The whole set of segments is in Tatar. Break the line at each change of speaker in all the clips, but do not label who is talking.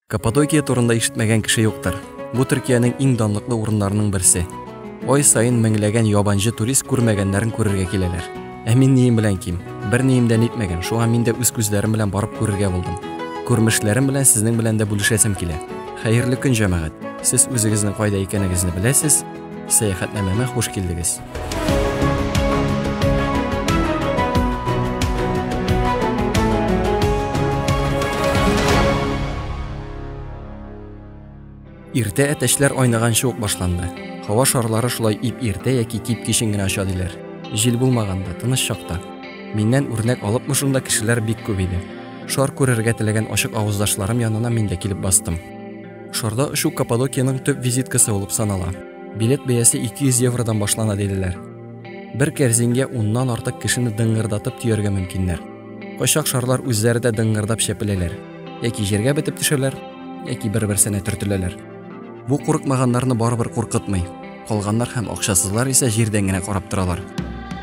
Каппадокия турында ишетмәгән кеше юктыр. Бу Төркиянең иң данлыклы урыннарының берсе. Ай саен меңләгән ябанҗы турист күрмәгәннәрен күрергә киләләр. Ә мин нием белән ким? Бер нием дә нитмәгән, шуңа мин дә үз күзләрем белән барып күрергә булдым. Күрмешләрем белән сезнең белән дә бүлешәсем килә. Хәерле көн, җәмәгать! Сез үзегезнең кайда икәнегезне беләсез, сәяхәтнамәмә хуш килдегез! Иртә әтәчләр айнаганчы ук башланды. Һава шарлары шулай ип иртә яки кип кичен генә оча диләр. Җил булмаганда, тыныч чакта. Миннән үрнәк алыпмы шунда кешеләр бик күп иде. Шар күрергә теләгән ачык авыздашларым янына мин дә килеп бастым. Шарда очу Каппадокиянең төп визиткасы булып санала. Билет бәясе 200 евродан башлана диделәр. Бер кәрзингә уннан артык кешене дыңгырдатып төяргә мөмкиннәр. Кайчак шарлар үзләре дә дыңгырдап чәпеләләр. Яки җиргә бетеп төшәләр, яки бер-берсенә төртеләләр. Бу курыкмаганнарны барыбер куркытмый. Калганнар һәм акчасызлар исә җирдән генә карап торалар.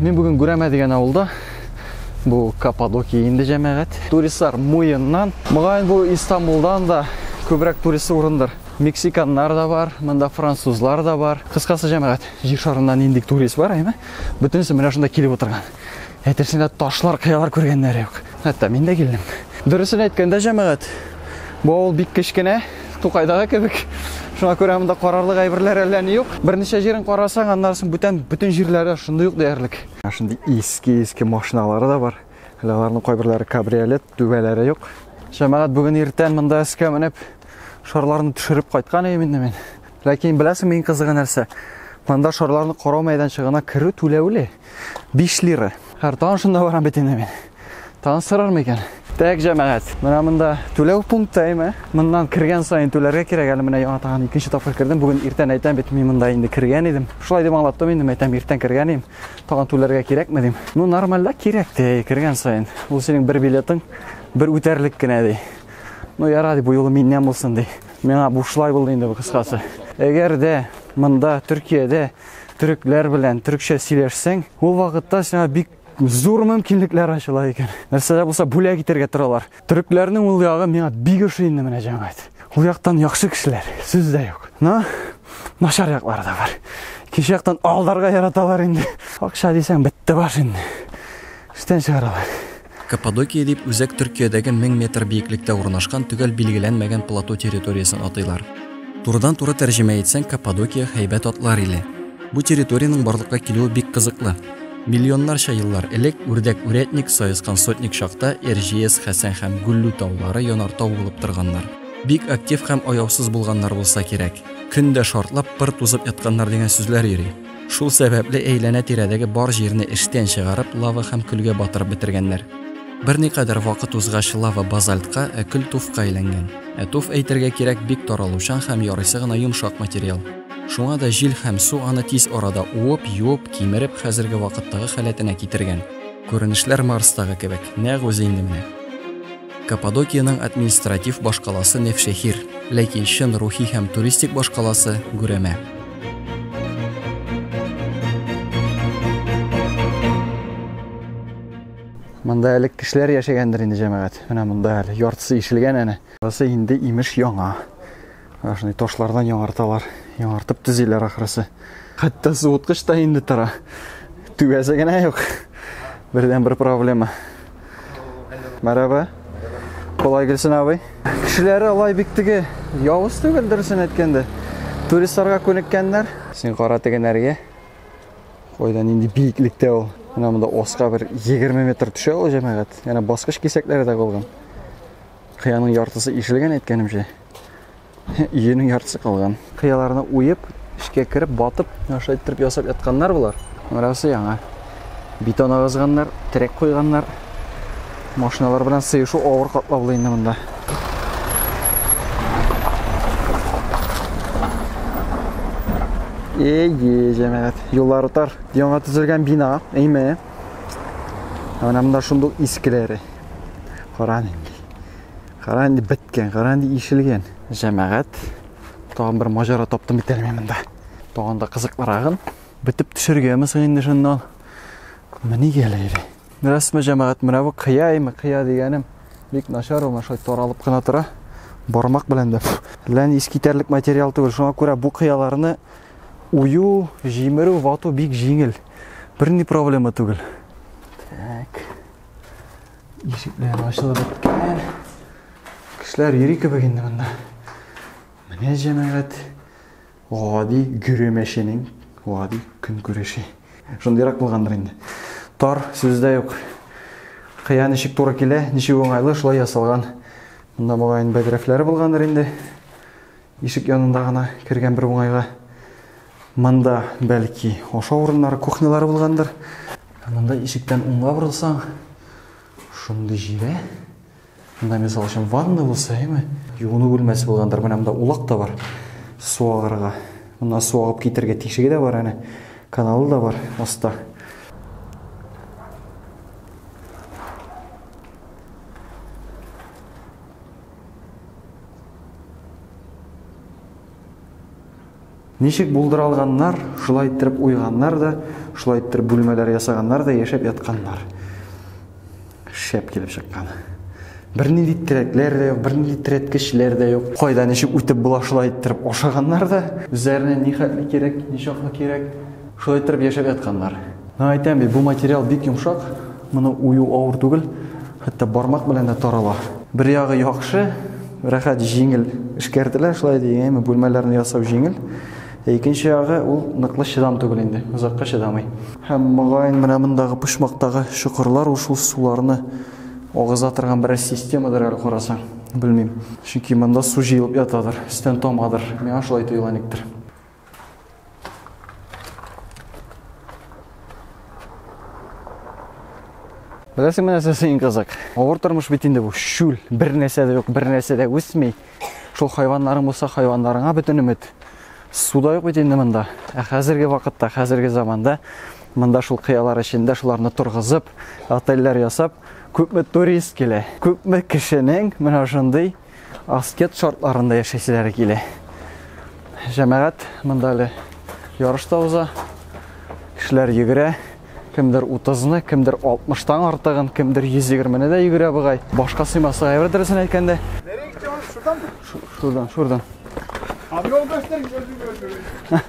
Мин бүген Гүрәмә дигән авылда. Бу Каппадокия инде җәмәгать. Туристлар Муеннан, мөгаен бу Истанбулдан да күбрәк турист урындыр. Мексиканнар да бар, монда французлар да бар. Кыскасы җәмәгать, җир шарында нинди турист бар, әйме? Бөтенесе менә шунда килеп утырган. Әйтерсең лә ташлар, кыялар күргәннәре юк. Хәтта мин дә килдем. Дөресен әйткәндә, җәмәгать, бу авыл бик кечкенә, Тукайдагы кебек. Шуңа күрә монда карарлык әйберләр әллә ни юк. Берничә җирен карасаң, аннары соң бүтән бөтен җирләрдә шундый ук диярлек. Ә шундый иске-иске машиналары да бар. Әле аларның кайберләре кабриолет, түбәләре юк. Җәмәгать бүген иртән монда өскә менеп, шарларны төшереп кайткан идем инде мин. Ләкин беләсеңме иң кызыгы нәрсә? Монда шарларны карау мәйданчыгына керү түләүле. 5 лира. Хәр тагын шунда барам бит инде мин. Тагын сорармы икән? Так, җәмәгать. Менә монда түләү пункты әйме. Моннан кергән саен түләргә кирәк. Әле менә яңа тагын икенче тапкыр кердем. Бүген иртән әйтәм бит, мин монда инде кергән идем. Шулай дип аңлаттым инде, әйтәм, иртән кергән идем. Тагын түләргә кирәкме дим. Ну, нормальда кирәк те, кергән саен. Ул синең бер билетың, бер үтәрлек кенә ди. Ну, яра ди, бу юлы миннән булсын ди. Миңа бушлай булды инде бу кыскасы. Әгәр дә монда Төркиядә төрекләр белән төрекчә сөйләшсәң, ул вакытта сиңа бик зур мөмкинлекләр ачыла икән. Нәрсә дә булса бүләк итәргә торалар. Төрекләрнең ул ягы миңа бик ошый инде менә җәмәгать. Ул яктан яхшы кешеләр, сүз дә юк. Но начар яклары да бар. Икенче яктан алдарга яраталар инде. Акча дисәң бетте баш инде. Эштән чыгаралар. Каппадокия дип үзәк Төркиядәге 1000 метр биеклектә урнашкан төгәл билгеләнмәгән плато территориясен атыйлар. Турыдан-туры тәрҗемә итсәң, Каппадокия, һәйбәт атлар иле. Бу территориянең барлыкка килүе бик кызыклы. Миллионнарча еллар элек, үрдәк-үрәтник, саескан-сотник чакта, Эрҗиес, Хәсән һәм Гөллү таулары янартау булып торганнар. Бик актив һәм аяусыз булганнар булса кирәк. Көн дә шартлап, пыр тузып ятканнар дигән сүзләр йөри. Шул сәбәпле әйләнә-тирәдәге бар җирне эштән чыгарып, лава һәм көлгә батырып бетергәннәр. Берникадәр вакыт узгач, лава базальтка, ә көл туфка әйләнгән. Ә туф, әйтергә кирәк, бик таралучан һәм ярыйсы гына йомшак материал. Шуңа да җил һәм су аны тиз арада уып, юып, кимереп, хәзерге вакыттагы халәтенә китергән. Күренешләр Марстагы кебек, нәкъ үзе инде менә. Каппадокиянең административ башкаласы Невшехир, ләкин чын рухи һәм туристик башкаласы Гүрәмә. Монда әле кешеләр яшәгәндер инде җәмәгать. Менә монда әле яртысы ишелгән әнә. Басы инде имеш яңа. Шундый ташлардан яңарталар. Яңартып төзиләр ахрысы. Хәтта суыткыч та инде тора. Түгәсе генә юк. Бердән бер проблема. Мәрәбә. Колай килсен абый. Кешеләре алай бик теге явыз түгел дөресен әйткәндә. Туристларга күнеккәннәр. Син кара тегенәргә. Кайда нинди биеклектә ул. Менә монда оска бер 20 метр төшә ул җәмәгать. Яна баскыч кисәкләре дә калган. Кыяның яртысы ишелгән әйткәнемчә. Иенең яртысы калган. Кыяларны уеп, эчкә кереп, батып, шулай иттереп ясап ятканнар болар. Берәрсе яңа бетон агызганнар, терәк куйганнар. Машиналар белән сыешу авыр катлаулы инде монда. Эйе, җәмәгать. Юллар утар. Яңа төзелгән бина, әйме. Менә монда шундук искеләре. Каран инде. Кара инде беткән, кара инде ишелгән. Җәмәгать, тагын бер маҗара таптым бит әле монда. Тагын да кызыклырагын бетеп төшергәме соң инде шуннан. Менә гәләре. Рәсме җәмәгать менә бу кыяймы, кыя дигәнем. Бик начар ул, шулай таралып кына тора. Бармак белән дә. Лән искитәрлек материал түгел. Шуңа күрә бу кыяларны ую, җимерү, вату бик җиңел. Берни проблема түгел. Так. Ишекләр ачылып беткән. Кешеләр йөри кебек инде монда. Менә җәмәгать гади гөремәченең гади көн күреше. Шундыйрак булгандыр инде. Тар сүздә юк. Кыя ничек туры килә, ничек уңайлы, шулай ясалган. Монда мөгаен бәдрәфләре булгандыр инде. Ишек янында гына кергән бер уңайга. Монда бәлки ашау урыннары, кухнялары булгандыр. Монда ишектән уңга борылсаң, шундый җирә. Монда мисал өчен ванна булса, әйме? Юыну бүлмәсе булгандыр. Менә монда улак та бар. Су агарга. Монда су агып китергә тишеге дә бар әнә. Каналы да бар аста. Ничек булдыралганнар, шулай иттереп уйганнар да, шулай иттереп бүлмәләр ясаганнар да яшәп ятканнар. Шәп килеп чыккан. Бернинди терәкләр дә юк, бернинди терәткечләр дә юк. Кайда ничек үтеп була шулай иттереп ашаганнар да, үзләренә ни хәтле кирәк, ни чаклы кирәк, Шулай иттереп яшәп ятканнар. Мин әйтәм бит, бу материал бик йомшак, моны ую авыр түгел, хәтта бармак белән дә тарала. Бер ягы яхшы, рәхәт, җиңел эшкәртелә, шулай дигәнме, бүлмәләрне ясау җиңел. Ә икенче ягы ул ныклы чыдам түгел инде, озакка чыдамый. Һәм мөгаен менә мондагы почмактагы чокырлар ул шул суларны агыза торган берәр системадыр әле карасаң, белмим. Чөнки монда су җыелып ятадыр, өстән тамадыр. Миңа шулай тоела никтер. Беләсең менә син кызык. Авыр тормыш бит инде бу. Шүл, бер нәрсә дә юк, бер нәрсә дә үсми. Шул хайваннарың булса, хайваннарыңа бөтен өмет. Су да юк бит инде монда. Ә хәзерге вакытта, хәзерге заманда монда шул кыялар эчендә шуларны торгызып, отельләр ясап, күпме турист килә. Күпме кешенең менә шундый аскет шартларында яшәүчеләре килә. Җәмәгать монда әле ярыш та уза. Кешеләр йөгерә. Кемдер 30-ны, кемдер 60-тан артыгын, кемдер 120-ны да йөгерә бугай. Башка сыймасы әйбер дөресен әйткәндә. Нәре китә ул шудан? Шудан, шудан. Абы ул бәстер җөрдү.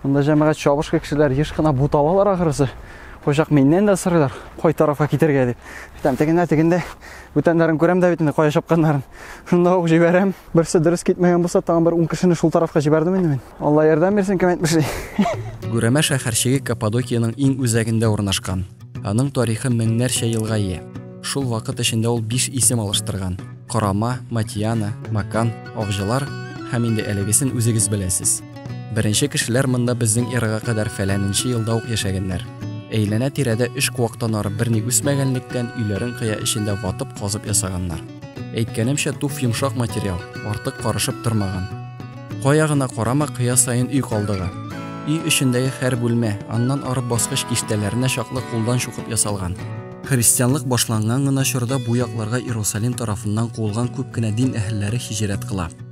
Монда җәмәгать чабыш кешеләр еш кына буталалар ахырысы. Кочак миннән дә сырылар. Кай тарафка китергә дип. Там тегендә, тегендә Бүтәннәрен күрәм дә бит инде кая чапканнарын. Шунда ук җибәрәм. Берсе дөрес китмәгән булса, тагын бер 10 кешене шул тарафка җибәрдем инде мин. Алла ярдәм бирсен, кем әйтмешли. Гүрәмә шәһәрчеге Каппадокиянең иң үзәгендә урнашкан. Аның тарихы меңнәрчә елга ия. Шул вакыт эчендә ул биш исем алыштырган. Корама, Матиана, Макан, Авҗылар һәм инде әлегесен үзегез беләсез. Беренче кешеләр монда безнең эрага кадәр фәләненче елда ук яшәгәннәр. Әйләнә-тирәдә өч куактан ары берни үсмәгәнлектән, өйләрен кыя эчендә ватып, казып ясаганнар. Әйткәнемчә, туф йомшак материал, артык карышып тормаган. Кая гына карама, кыя саен өй калдыгы. Өй эчендәге һәр бүлмә, аннан ары баскыч киштәләренә чаклы кулдан чукып ясалган. Христианлык башланган гына чорда бу якларга Иерусалим тарафыннан куылган күп кенә дин әһелләре һиҗрәт кыла.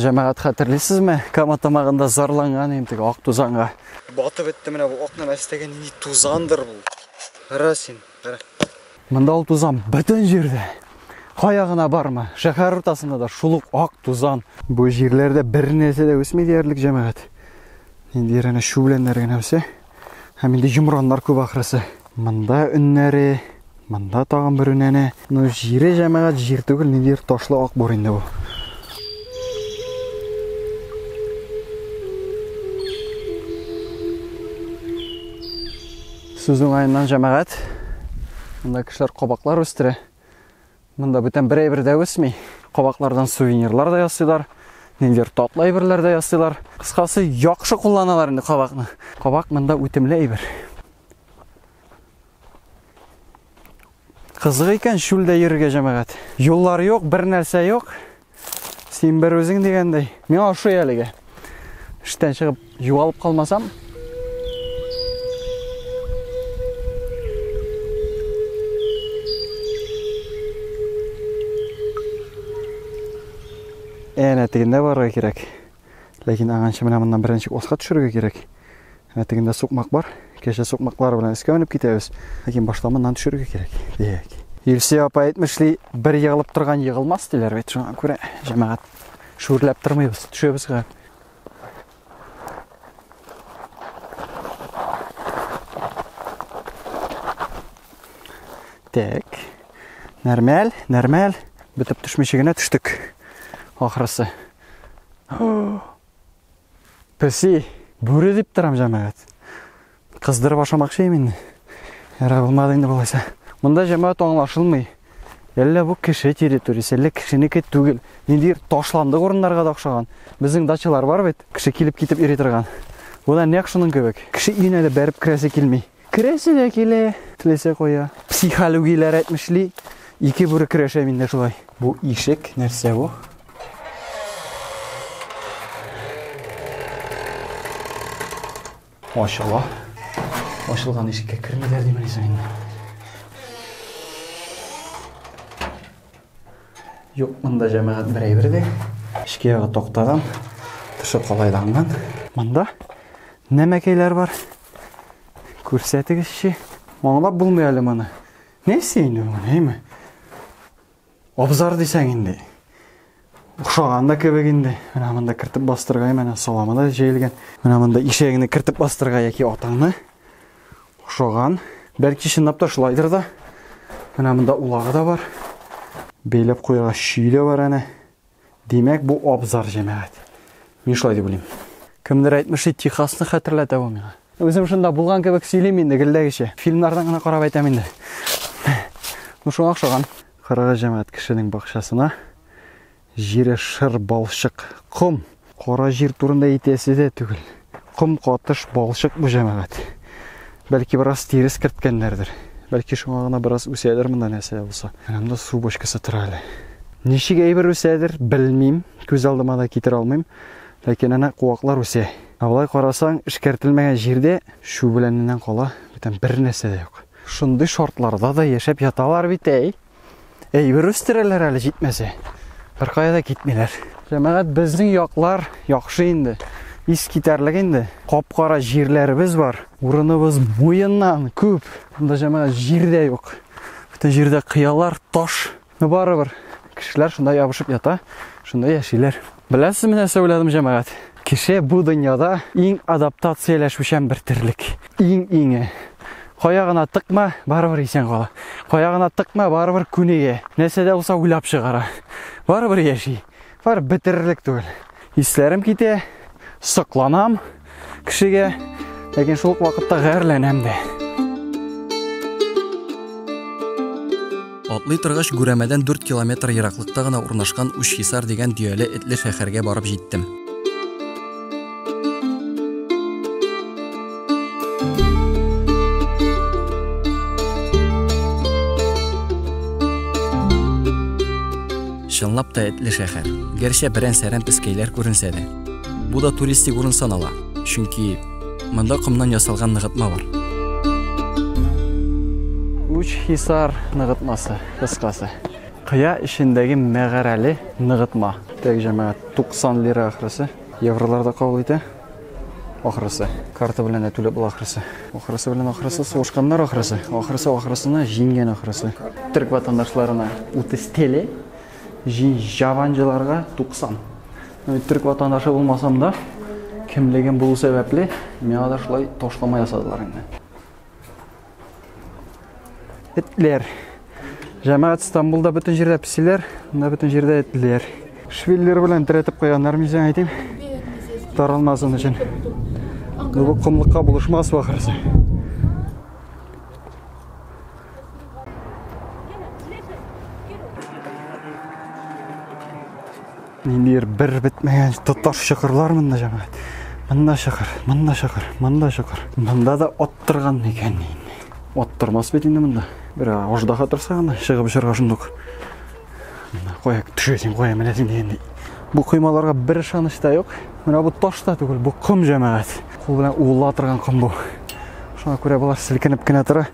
Җәмәгать хәтерлисезме? Кама тамагында зарланган идем теге ак тузанга. Батып бетте менә бу акның астагы нинди тузандыр бу. Кара син, кара. Монда ул тузан бөтен җирдә. Кая гына барма, шәһәр уртасында да шул ук ак тузан. Бу җирләрдә бер нәрсә дә үсми диярлек җәмәгать. Инде янә шү беләннәр генә үсә. Һәм инде йомраннар күп ахрысы. Монда өннәре, монда тагын бер өнәне. Ну, җире җәмәгать җир түгел, ниндидер ташлы ак бур инде бу. Сүз уңаеннан җәмәгать. Монда кешеләр кабаклар үстерә. Монда бүтән бер әйбер дә үсми. Кабаклардан сувенирлар да ясыйлар, ниндидер татлы әйберләр дә ясыйлар. Кыскасы, яхшы кулланалар инде кабакны. Кабак монда үтемле әйбер. Кызык икән шүлдә йөрергә җәмәгать. Юллар юк, бер нәрсә юк. Син бер үзең дигәндәй. Миңа ошый әлегә. Эштән чыгып югалып калмасам, Әнә тегендә барырга кирәк. Ләкин аганчы менә моннан беренче осқа төшерергә кирәк. Ә тегендә сукмак бар. Кәҗә сукмаклары белән өскә менеп китәбез. Ләкин башта моннан төшерергә кирәк. Дияк. Илсөя апа әйтмешли, бер егылып торган егылмас диләр бит. Шуңа күрә җәмәгать шүрләп тормыйбыз. Төшәбез гә. Так. Нормаль, нормаль. Бетеп төшмичә генә төштек. Ахрысы. Песи, бүре дип торам җәмәгать. Кыздырып ашамакчы идем инде. Ярар булмады инде болайса. Монда җәмәгать аңлашылмый. Әллә бу кеше территориясе, әллә кешенеке түгел. Ниндидер ташландык урыннарга да охшаган. Безнең дачалар бар бит, кеше килеп китеп йөри торган. Бу да нәкъ шуның кебек. Кеше өенә дә бәреп керәсе килми. Керәсе дә килә, теләсә кая. Психологияләр әйтмешли, ике бүре көрәшә миндә шулай. Бу ишек нәрсә бу? Ачыла. Ачылган ишеккә кермиләр димени соң инде. Юк, монда җәмәгать бер әйбер дә. Эшкә ягы тактадан, тышы калайланган. Монда нәмәкәйләр бар. Күрсәтегезче. Аңлап булмый әле моны. Нәрсә инде бу, әйме? Абзар дисәң инде. Охшаган да кебек инде. Менә монда кертеп бастырга, менә саламы да җәелгән. Менә монда ишәгеңне кертеп бастырга яки атаңны. Охшаган. Бәлки чынлап та шулайдыр да. Менә монда улагы да бар. Бәйләп куярга чөй дә бар әнә. Димәк, бу абзар, җәмәгать. Мин шулай дип уйлыйм. Кемдер әйтмешли, Техасны хәтерләтә бу миңа. Үзем шунда булган кебек сөйлим инде гелдәгечә. Фильмнардан гына карап әйтәм инде. Ну шуңа охшаган. Карагыз, җәмәгать, кешенең бакчасына җире шыр балчык, ком. Кара җир турында әйтәсе дә түгел. Ком катыш балчык бу җәмәгать. Бәлки бераз тирес керткәннәрдер. Бәлки шуңа гына бераз үсәдер монда нәрсә булса. Янымда су бочкасы тора әле. Ничек әйбер үсәдер, белмим, күз алдыма да китерә алмыйм. Ләкин әнә куаклар үсә. Ә болай карасаң, эшкәртелмәгән җирдә чү беләненнән кала бүтән бер нәрсә дә юк. Шундый шартларда да яшәп яталар бит, әй! Әйбер үстерәләр әле җитмәсә. Беркая да китмиләр. Җәмәгать безнең яклар яхшы инде. Ис китәрлек инде. Капкара җирләребез бар. Урыныбыз муеннан күп. Монда җәмәгать җир дә юк. Бөтен җирдә кыялар, таш. Но барыбер кешеләр шунда ябышып ята, шунда яшиләр. Беләсезме нәрсә уйладым, җәмәгать? Кеше бу дөньяда иң адаптацияләшүчән бер терлек. Иң иңе. Кая гына тыкма, барыбер исән кала. Кая гына тыкма, барыбер күнегә. Нәрсә дә булса уйлап чыгара. Барыбер яши. Бар бетерерлек түгел. Исләрем китә, сокланам. кешегә, ләкин шул ук вакытта гарьләнәм дә. Атлый торгач, Гүрәмәдән 4 километр ераклыкта гына урнашкан Учхисар дигән дөяле этле шәһәргә барып җиттем. Чынлап та этле шәһәр. Гәрчә берән-сәрән пескәйләр күренсә дә. Бу да туристик урын санала, чөнки монда комнан ясалган ныгытма бар. Уч Хисар ныгытмасы, кыскасы. Кыя эчендәге мәгарәле ныгытма. Тәк җәмәгать 90 лира ахрысы, евроларда кабул итә. Ахрысы. Карта белән дә түләп була ахрысы. Ахрысы белән ахрысы сугышканнар ахрысы. Ахрысы ахрысына җиңгән ахрысы. Төрк ватандашларына 30 теле Җаванҗыларга 90. Төрек ватандашы булмасам да, кемлегем булу сәбәпле, миңа да шулай ташлама ясадылар инде. Этләр. Җәмәгать Стамбулда бөтен җирдә песиләр, монда бөтен җирдә этләр. Швиллер белән терәтеп куйганнар мин сиңа әйтим. Таралмасын өчен. Бу комлыкка булышмас вахырсы. Нилер бер бетмәгән тоташ чокырлар монда җәмәгать. Монда чокыр, монда чокыр, монда чокыр. Монда да оттырган икән инде. Оттырмас бит инде монда. Бер аждаха торса гына чыгып җырга шундук. Кая төшәсең, кая менәсең дигәндәй. Бу коймаларга бер ышаныч та юк. Менә бу таш та түгел, бу ком җәмәгать. Кул белән уыла торган ком бу. Шуңа күрә болар селкенеп кенә тора.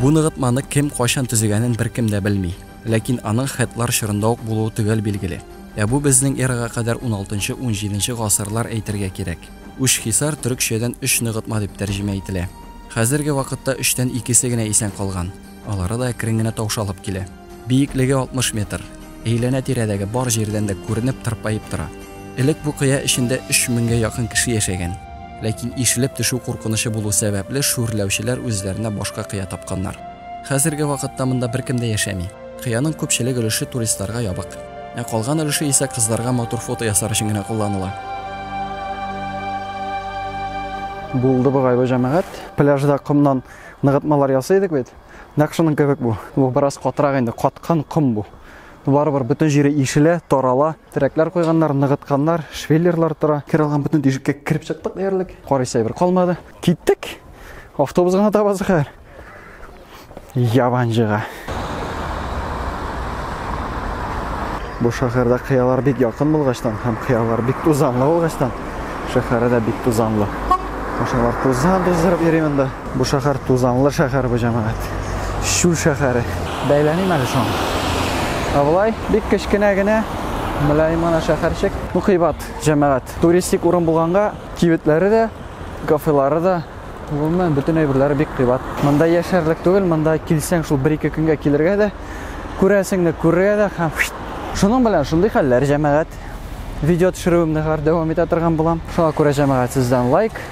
Бу ныгытманы кем кайчан төзегәнен беркем дә белми. Ләкин аның хетлар чорында ук булуы төгәл билгеле. Ә бу безнең эрага кадәр 16-17 гасырлар әйтергә кирәк. Үчхисар төрекчәдән өч ныгытма дип тәрҗемә ителә. Хәзерге вакытта өчтән икесе генә исән калган. Алары да әкрен генә таушалып килә. Биеклеге 60 метр. Әйләнә-тирәдәге бар җирдән дә күренеп, тырпаеп тора. Элек бу кыя эчендә өч меңгә якын кеше яшәгән. Ләкин ишелеп төшү куркынычы булу сәбәпле, шүрләүчеләр үзләренә башка кыя тапканнар. Хәзерге вакытта монда беркем дә яшәми. Кыяның күпчелек өлеше туристларга ябык. Ә калган өлеше исә кызларга матур фото ясар өчен генә кулланыла. Булды бугай бу җәмәгать. Пляжда комнан ныгытмалар ясый идек бит. Нәкъ шуның кебек бу. Бу бераз катырак инде, каткан ком бу. Барыбер бөтен җире ишелә, тарала. Терәкләр куйганнар, ныгытканнар, швеллерлар тора. Кер алган бөтен тишеккә кереп чыктык диярлек. Карыйсы әйбер калмады. Киттек. Автобус гына табасы хәер. Ябанҗыга. Бу шәһәрдә кыялар бик якын булгачтан һәм кыялар бик тузанлы булгачтан, шәһәре дә бик тузанлы. Машиналар тузан туздырып йөри монда. Бу шәһәр тузанлы шәһәр бу җәмәгать. Чүл шәһәре. Бәйләмим әле соң. Ә болай бик кечкенә генә мөлаем гына шәһәрчек. Ну кыйбат җәмәгать. Туристик урын булганга, кибетләре дә, кафелары да Гомумән, бөтен әйберләре бик кыйбат. Монда яшәрлек түгел, монда килсәң, шул бер-ике көнгә килергә дә, күрәсеңне күрергә дә һәм шуның белән шундый хәлләр, җәмәгать. Видео төшерүемне хәзер дәвам итә торган булам. Шуңа күрә җәмәгать сездән лайк,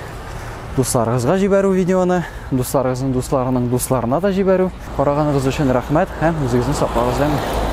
дусларыгызга җибәрү видеоны, дусларыгызның дусларының дусларына да җибәрү. Караганыгыз өчен рәхмәт һәм үзегезне саклагыз, әмин.